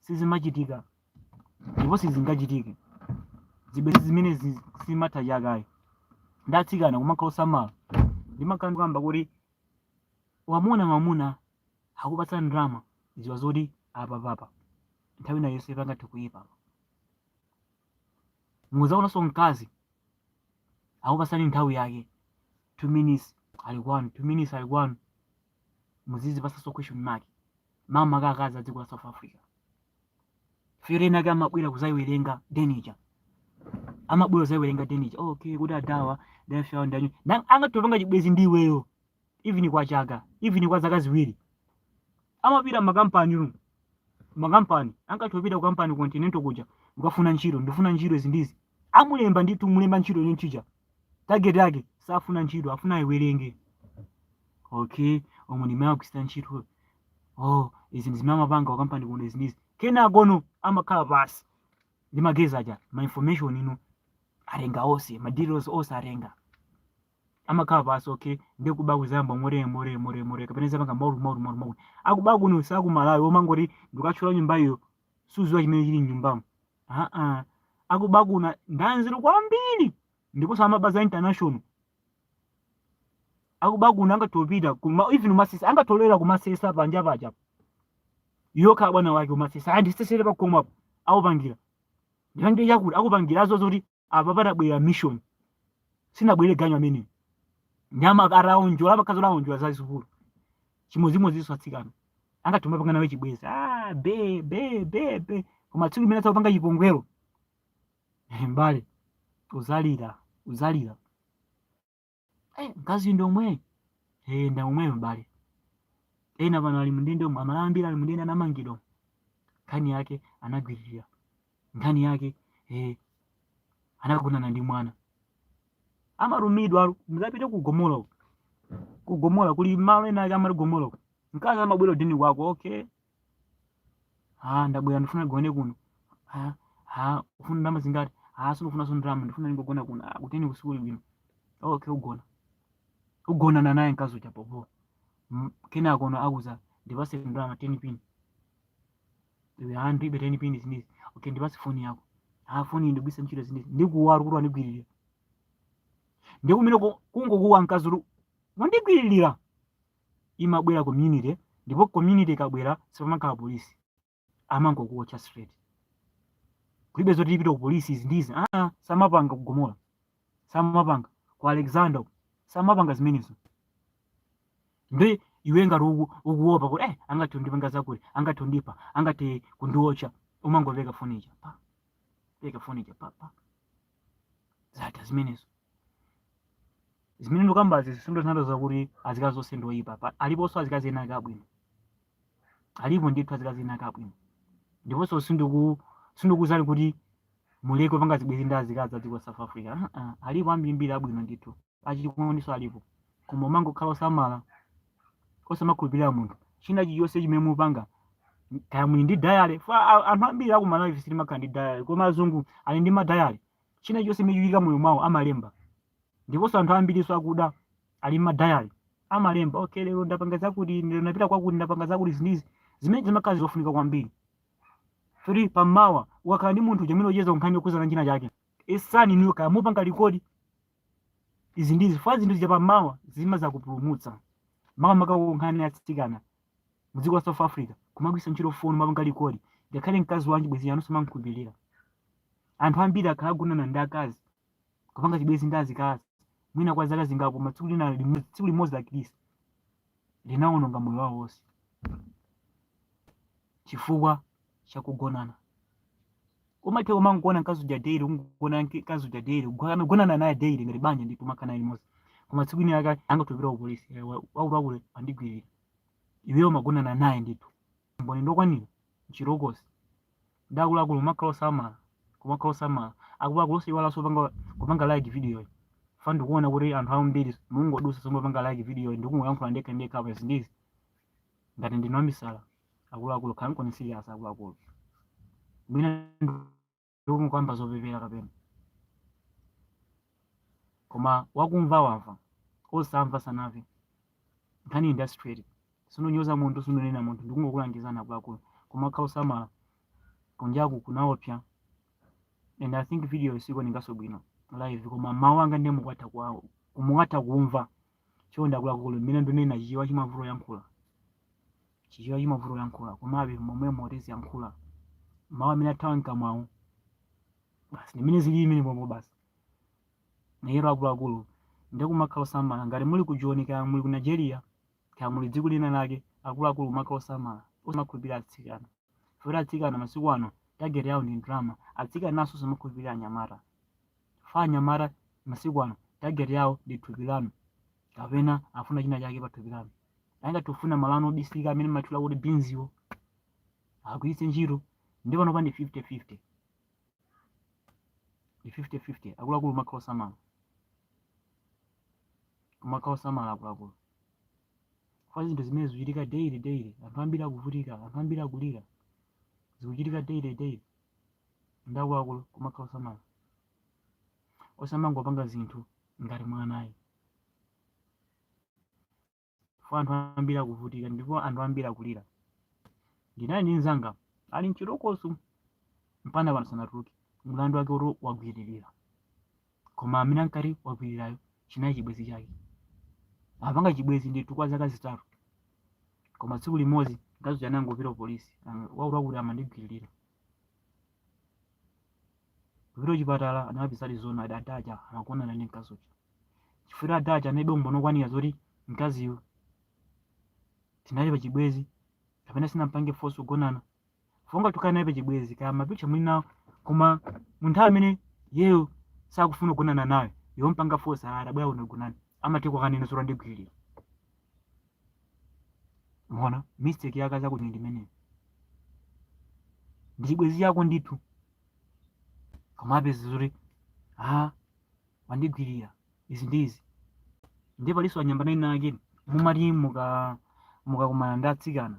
sizimachitika ndipo sizingachitike zibwenzi zimene zi- simatha chaka ayi nde atsikana kumakhala osamala ndimakhala ndikukamba kuti wamuna mamuna akupatsa ndalama ziwa zoti apapapa nthawi ina yonse pangathe kuyipa muzaonanso mkazi akupatsani nthawi yake two minutes ali kwanu two minutes ali kwanu muzizipasanso question mark makamaka akazi a dziko la south africa fa enaake amabwera kuzayiwerenga denija amabwera kuzayiwerenga denija oh, okay kuti adawa life yawo ndanyu Na- akangopanga chibwezi ndi iweyo even kwa chaka even kwa zaka ziwiri amapita makampani ru makampani akangopita ku kampani continental kuja kukafuna ntchito ndifuna ntchito izi ndizi amulemba ndithu mulemba ntchito chonchija, target yake safuna ntchito afuna ayiwerenge, okay omwe ndimene akuchita ntchito oh izi ndizimene amapanga wakampani kuno izi ndizi kenakono amakhala pasi ndi ma guys aja ma information ine ndatenga onse ma details onse ndatenga amakhala pasi okay ndi kuba kuzayamba more more more more kapena zapanga ma wrong ma wrong ma wrong ma wrong akuba kuno si ku Malawi omangoti ndikathyola nyumba iyo suziwa chimene chili mnyumbamo aa akuba kuno ndanzeru kwambiri ndiponso amaba za international akuba kuno angathe kupita even umasesa angathe kubwera kumasesa panja paja yokha bwana wake umasesa andisesere pakomapo akupangira ndipangire chakuti akupangira azo zoti apa abwerera mission sanabwerere ganyu amene nyama akaonjola akazi akaonjola zazikulu chimodzimodzinso atsikana angathe kumapanga nawe chibwezi ah, be be be be koma tsiku limene adzakupanga chipongwero mbale uzalira uzalira eh, mkazi ndi omwe eh, ndi omweyo abale ena pano ali mundende omwe amalawi ambiri ali mundende anamangidwa omwe. nkhani yake anagwiririra nkhani yake eh, anagonana ndi mwana amanamizidwa alu muzapite ku gomola uko. ku gomola kuli malo ena ake amati gomola uko. mkazi amabwera ku den kwako okay ah ndabwera ndifuna ndigone kuno ah ah ufuna ndalama zingati ah sindikufuna so ndalama ndifuna ndingogona kuno ah kuteni kwathu sikuli bwino okay ugona ugonana naye mkazi uja popo kenakono akuza ndipase ndalama 10 pin iwe ah ndibe 10 pin izi ndi izi okay ndipase foni yako ah foni iyi ndigwiritsa ntchito izi ndi izi ndikuwa kuti wandigwiririra ndipo mmene kungokuwa mkazi uja wandigwiririra imabwera community ndipo community ikabwera sipamakhala police amangokuotcha straight kulibe zoti tipite ku police izi ndizi aa amapanga ku Gomora zimene amapanga ku Alexandra uku, amapanga zimenezo ndi iwe ngati uku- ukuopa kuti eh angathe kundipanga zakuti angathe kundipa angathe kundiotcha umangopereka foni ija pa pereka foni ija pa pa zinthu zimenezo zimene ndikukambazi sizikutanthauza kuti azikazi onse ndi oyipa pa- aliponso azikazi ena ake abwino alipo ndithu azikazi ena ake abwino ndiponso sindiku sindikukuuzani kuti muleke kupanga zibwenzi ndi azikazi a dziko la south africa Ah, ah, alipo ambirimbiri abwino ndithu achikondinso alipo koma umangokhala osamala osamakhulupirira munthu china chilichonse chimene mupanga kaya muli ndi dayale fa a- anthu ambiri aku Malawi ife sitimakhala ndi dayale koma azungu ali ndi madayale china chilichonse chimene chikuchitika moyo mwawo amalemba ndiponso anthu ambirinso akuda ali ndi madayale amalemba okay lero ndapanga zakuti lero ndapita kwakuti ndapanga zakuti zinthuzi zimene zimakhala zofunika kwambiri kuti pamawa ukakhala ndi munthu uja umene ucheza nkhani yokhudzana ndi china chake esani niyo kaya mupanga record izi ndi zifukwa zinthu zija pamawa zimazakupulumutsa makamaka kunkhani ya tsikana mu dziko la South Africa kumagwiritsa ntchito foni kumapanga record ngakhale mkazi wanji chibwenzi chanu osamamukhulupirira anthu ambiri akhala agonana ndi akazi kupanga chibwenzi ndi azikazi mwina kwa zaka zingapo koma tsiku lina limo- tsiku limodzi lakhristu linawononga moyo wawo wonse chifukwa cha kugonana umatha kumangogona mkazi uja daily ungogona mke- mkazi uja daily ugo- amagonana naye daily ngati banja ndithu umakhala naye limodzi koma tsiku ina yake angathe kupita ku polisi eh, wa- akuluakulu wandigwirira iweyo umagonana naye ndithu mboni ndokwanira mchirokosi nde akuluakulu kumakhala osamala kumakhala osamala akuluakulu osayiwalanso kupanga kupanga like videoyi fa ndikuona kuti anthu ambiri mungodutsa osamapanga like videoyi ndikungoyankhula ndekha ndekha apa zinthuzi ngati ndine wamisala akuluakulu khala nkhani serious akuluakulu mwina ndikungokamba zopepera kapena koma wakumva wamva osamva sanamve nkhani industry Sindikunyoza munthu, sindikunena munthu, ndikungokulangizani akuluakulu kumakhala osamala kunjaku kunaopsa and I think video siikuonekanso bwino live koma mawu anga ndiye mukwatha kuwa- mukwatha kumva chonde akuluakulu mmene ndikunena Chichewa chimavuta kuyankhula Chichewa chimavuta kuyankhula komabe momwemo timangoyankhula mawu amene athawa mkamwawo basi ndimene zili imene pombo basi nayero akuluakulu nde kumakhala osamala ngati muli ku Joni kaya muli ku Nigeria Kaya muli dziko lina lake, akuluakulu kumakhala osamala, osamakhulupirira atsikana. Chifukwa choti atsikana masiku ano target yawo ndi ndalama, atsikananso osamakhulupirira anyamata. Chifukwa anyamata masiku ano target yawo ndi thupi lanu kapena afuna china chake pa thupi lanu. Angathe kufuna malo anu obisika amene mumatchula kuti bins wo agwiritse ntchito ndi panopa ndi 50-50. Ndi 50-50, akuluakulu kumakhala osamala. kumakhala osamala akuluakulu fa zinthu zimene zikuchitika daily daily anthu ambiri akuvutika anthu ambiri akulira zikuchitika daily daily nde akuluakulu kumakhala osamala osamangopanga zinthu ngati mwana ayi chifukwa anthu ambiri akuvutika ndipo anthu ambiri akulira ndinali ndi mzanga ali mchitokosi mpaka pano sanatuluke mlandu wake oti wagwiririra koma amene ankati wagwirirayo chinali chibwenzi chake apanga chibwenzi ndithu kwa zaka zitatu koma tsiku limodzi mkazi uja anangopita ku polisi wakuti akuti amandigwiririra Kupita kuchipatala anakapezadi zoonadi adaja amagonana ndi mkazi uja. Chifukwa adaja analibe umboni okwanira zoti mkaziyu tinali pa chibwezi kapena sinampange force kugonana. Fonga tukana naye pa chibwezi kaya mapicha muli nawo koma munthu amene yeyo sakufuna kugonana nawe wampanga force adabwera kuno kugonana amatha kukanena zoti wandigwirira. mona mistake yake zakuti ndi imeneyo ndi chibwenzi chako ndithu koma upeza zoti a wandigwirira izi ndi izi ndiye palinso anyamata ena ake mumati muka mukakumana ndi atsikana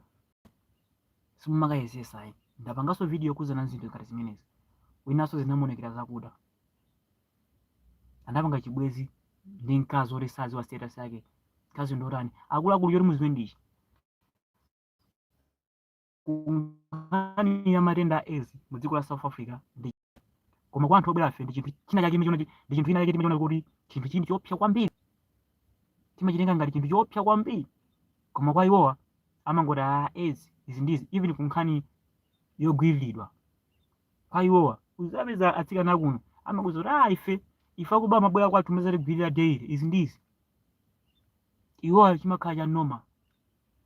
simumakayezetsa ayi ndapanganso video yokhudzana nzinthu ngati zimenezi winanso zinamuonekera zakuda anapanga chibwezi ndi mkazi oti sadziwa status yake mkazi ndotani akuluakulu choti muziwe ndichakuti nkhani ya matenda a aids mu dziko la south africa ndi koma kwa anthu obwerafe ndi chinthu china chake chimene chimene- ndi chinthu china chake timachiona kuti chinthuchi ndi choopsa kwambiri timachitenga ngati chinthu choopsa kwambiri koma kwa iwowa amangoti a aids izi ndizi even kunkhani yogwiriridwa kwa iwowa uzapeza atsikana akuno amakuuza kuti a ife ife akuba amabwera kwathu kumazatigwirira daily izi ndi izi iwowa chimakhala cha normal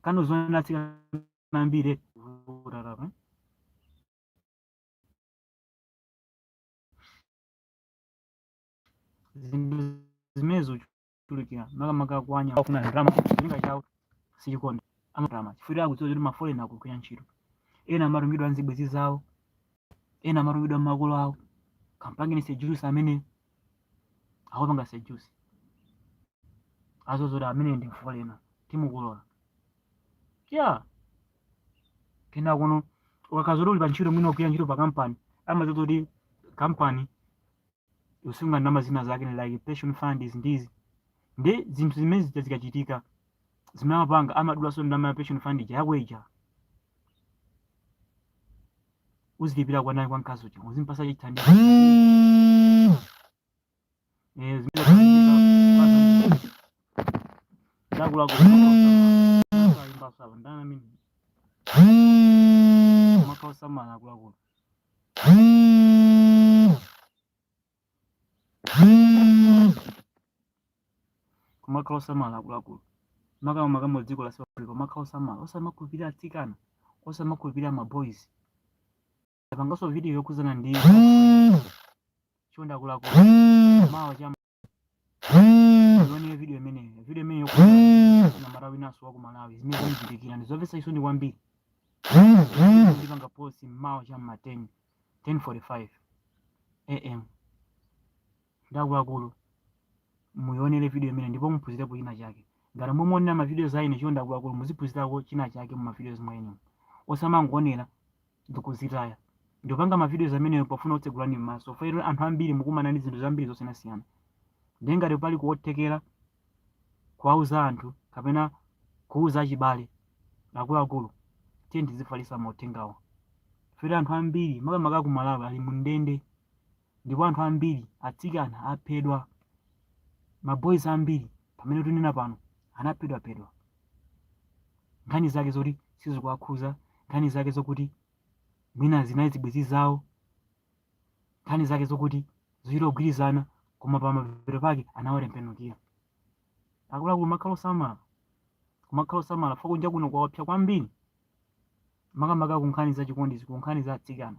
kano zona atsikana ambiri vutatapa zinthu zimenezo kuchulukira makamaka kwa anyamata ofuna ndalama cholinga chawo sichikonda koma ndalama chifukwa akudziwa kuti mafoleni akugwira ntchito ena amatumidwa nzibwenzi zawo ena amatumidwa mmakolo awo kampangeni seduce amene akupanga seduce aziwa zoti amene ndi mfolena timukulola ya kena kuno akaziwa zoti uli pa ntchito mwina ukugwira ntchito pa kampani amadziwa kuti kampani ikusunga ndalama zina zake ni like pension fund izi ndi izi ndi zinthu zimene zija zikachitika zimene amapanga amadulaso ndalama ya pension fund ija yako ija uzilipira kwa nani kwa mkazi uja uzimpasa cha chithandizo eh zimene zikachitika zakula kwa imba sawa ndana mimi makao samala kulakula kumakhala osamala akuluakulu makama makamaka dziko la south africa kumakhala osamala osamakhulupirira atsikana osamakhulupirira maboys ndapanganso video yokhudzana ndiye chonde akuluakulu mawa cha ione video imeneyo video imeneyo na amalawi naso wa ku malawi zimene zikuchitikira ndi zomvetsa chisoni kwambiri ndipanga post mmawa cha mma 10 10:45 am nde akuluakulu muyionere video imene ndipo muphunzirapo china chake ngati mumaonera mavidiyoz a ine chonde akuluakulu muziphunzirako china chake mumavidiyoz mwenemo osamangonera ndikuzitaya ndimapanga ma videos amenewo pofuna kukutsegulani m'maso fukwa anthu ambiri mukumana ndi zinthu zambiri zosiyanasiyana ndiye ngati pali kuothekera kuwauza anthu kapena kuuza achibale akuluakulu tiyeni tizifalitsa mauthengawo fukwa anthu ambiri makamaka ku malawi ali mu ndende ndipo anthu ambiri atsikana aphedwa maboys ambiri pamene tunena pano anaphedwaphedwa nkhani zake zoti sizikuwakhuza nkhani zake zokuti mwina zinali zibwenzi zawo nkhani zake zokuti zochita kugwirizana koma pa mapeto pake anawatembenukira akuluakulu kumakhala osamala kumakhala osamala fukwa kunja kuno kwaopsa kwambiri makamaka ku nkhani za chikondi ku nkhani za atsikana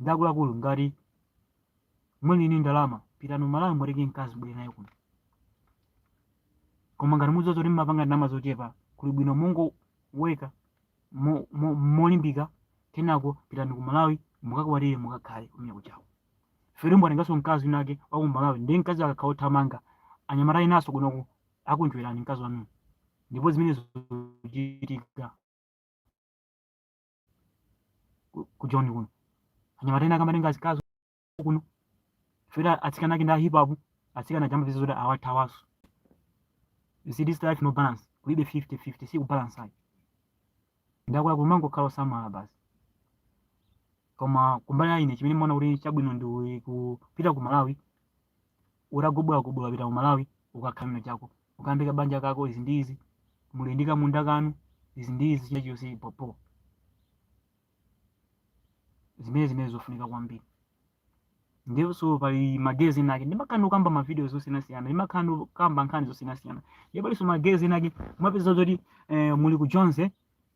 nde akuluakulu ngati muli ni ndalama pitani ku malawi mutenge mkazi mubwere naye kuno koma ngati mudziwa zoti mmapanga ndalama zochepa kuli bwino mongoweka mo- mo- molimbika kenako pitani ku malawi mukakwatire mukakhale kumene kuchawo fukwa mwatenganso mkazi winake wa ku malawi ndiye mkazi akakhala othamanga anyamata enanso kunoku akunjuyani mkazi wanuyo ndipo zimenezo zikuchitika ku Joni kuno anyamata ena akamatenga azikazi kuno fukwa atsikana ake ndi a hip hop atsikana jamba vizo zoti awathawaso you see this life no balance kulibe 50 50 si kubalance ayi nde akulu kumangokhala osamala basi koma kumbali ya ine chimene ndimaona kuti chabwino ndi kupita ku malawi ukagobola gobola upita ku malawi ukakhala na chako ukambeka banja kako izi ndi izi muli ndi kamunda kanu izi ndi izi china chilichonse bobo zimene zimene zofunika kwambiri ndiponso pali magayezi ena ake ndimakhala ndikukamba mavidiyoz osiyanasiyana ndimakhala ndikukamba nkhani zosiyanasiyana ndiye palinso magayezi ena ake mumapeza zoti eh, muli ku jonz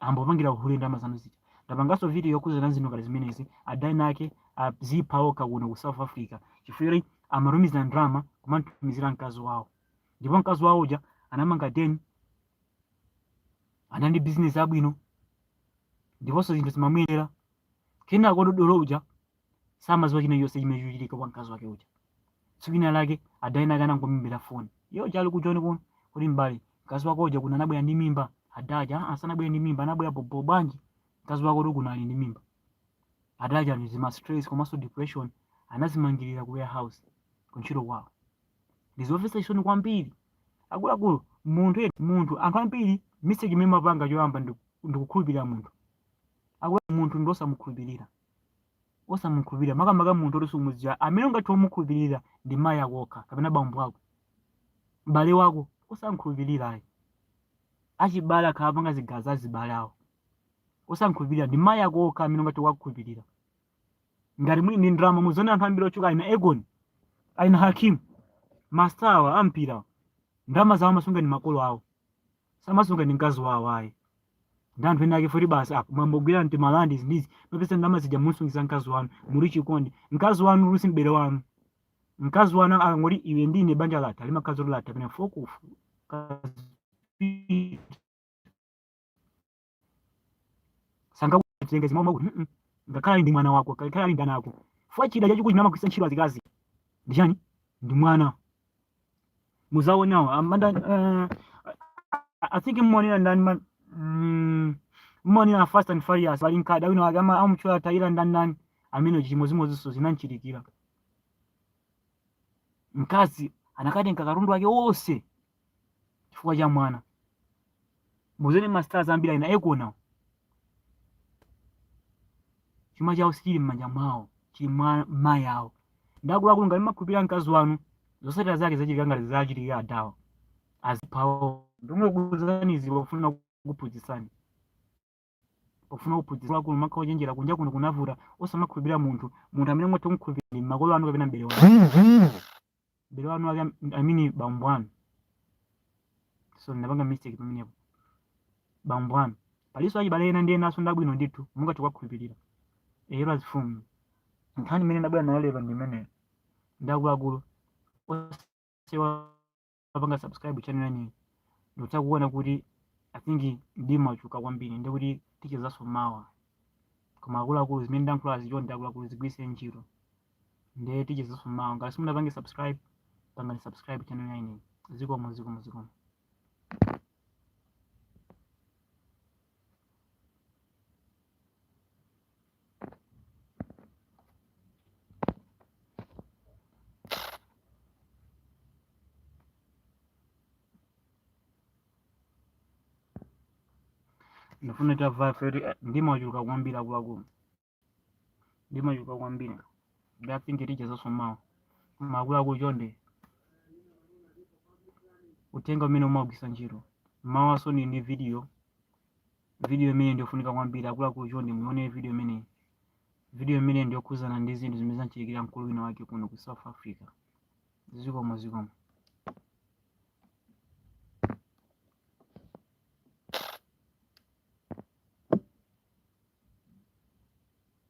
ambopangira uhule ndalama zanu zija ndapanganso video yokhudzana zinthu ngati zimenezi ada ena ake azipha okha kuno ku south africa chifukwa choti amatumiza ndalama kumamtumizira mkazi wawo ndipo mkazi wawo uja anamanga deni anali ndi bizinesi yabwino ndiponso zinthu zimamuyendera kenako dodolo uja samaziwa china chonse chimene chikuchitika kwa mkazi wake uja tsiku lina lake ada ena ake anangomuimbira foni iyo achali ku joni kuno kuti m'bale mkazi wako uja kuno anabwera ndi mimba adaja "Ah, sanabwere ndi mimba anabwera bhobho bwanji mkazi wako kuti kuno ali ndi mimba adaja ndi zima stress komanso depression anazimangirira ku warehouse kuntchito kwawo ndizomvetsa chisoni kwambiri akuluakulu munthu ye- munthu anthu ambiri mistake imene amapanga choyamba ndi- ndikukhulupirira munthu akulu munthu ndiosamukhulupirira osamukhulupirira makamaka munthu oti sumudziwa amene ungathe kumukhulupirira ndi mayi ako okha kapena bambo ako m'bale wako osamkhulupirira ayi achibale akhala apanga zigaza azibale awo osamkhulupirira ndi mayi ako okha amene ungathe kuwakhulupirira ngati muli ndi ndalama muzione anthu ambiri otchuka aina akon aina hakimi mastawa ampira ndalama zawo amasunga ndi makolo awo samasunga ndi mkazi wawo ayi ndi anthu ena ake futi basi apo mwambogwira timarandi izi ndi izi mwapeza ndalama zija mumsungitsa mkazi wanu muli chikondi mkazi wanuyo si m'bale wanu mkazi wanu akangoti iwe ndine banja latha limakhazi latha pena fokofu sangakutenge zimwe makuti mm ngakhale ali ndi mwana wako ngakhale ali ndi ana ako fwa chida chachikulu chimene amagwiritsa ntchito azikazi ndi chani ndi mwana muzaonawo amanda uh, i think mmonera ndani man mm, mmonera fast and furious pali mkada wina wake ama- amutchula tayira ndani ndani amene chimozimozinso zinamchitikira mkazi anakatenga katundu wake wonse chifukwa cha mwana muzaone ma stars ambiri aina akon awo chuma chawo sichili m'manja mwawo chili mwa mayi awo ndakuluakulu ngati mumakhulupirira mkazi wanu zotsatira zake zachitika ngati zachitikira adawa aziphawo ndimakuuzani izi pofuna kuphunzitsani pofuna kuphunzitsa akulu kumakhala ochenjera kunja kuno kunavuta osamakhulupirira munthu munthu amene mungathe kumkhulupirira ndi makolo anu kapena m'bale wanu m'bale wanu wake am- amene bambo anu so ndinapanga mistake pamenepo bambo anu palinso achibale ena ndi enanso ndabwino ndithu mungathe kuwakhulupirira eyero azimfumu nkhani imene ndabwera nayo lero ndi imeneyo ndi akuluakulu osewa tapanga subscribe channel yanayi ndikutha kuona kuti i think mdima wachuluka kwambiri ndi kuti tichezanso mawa koma akuluakulu zimene ndayankhulazi chonde akuluakulu zigwiritse ntchito ndiye tichezanso mawa ngati simunapange subscribe pangani subscribe channel yanayi zikomo zikomo zikomo ndifuna tavayo feri mdima wachuluka kwambiri akuluakulu mdima wachuluka kwambiri nde I think tichezanso mawa koma akuluakulu chonde uthenga umene mwaugwiritsa ntchito mawa ndiponyanso video Vidiyo imeneyi ndi yofunika kwambiri. Akuluakulu chonde muione vidiyo imeneyi. Vidiyo imeneyi ndi yokhudzana ndi zinthu zimene zamuchitikira mkulu wina wake kuno ku South Africa. Zikomo zikomo.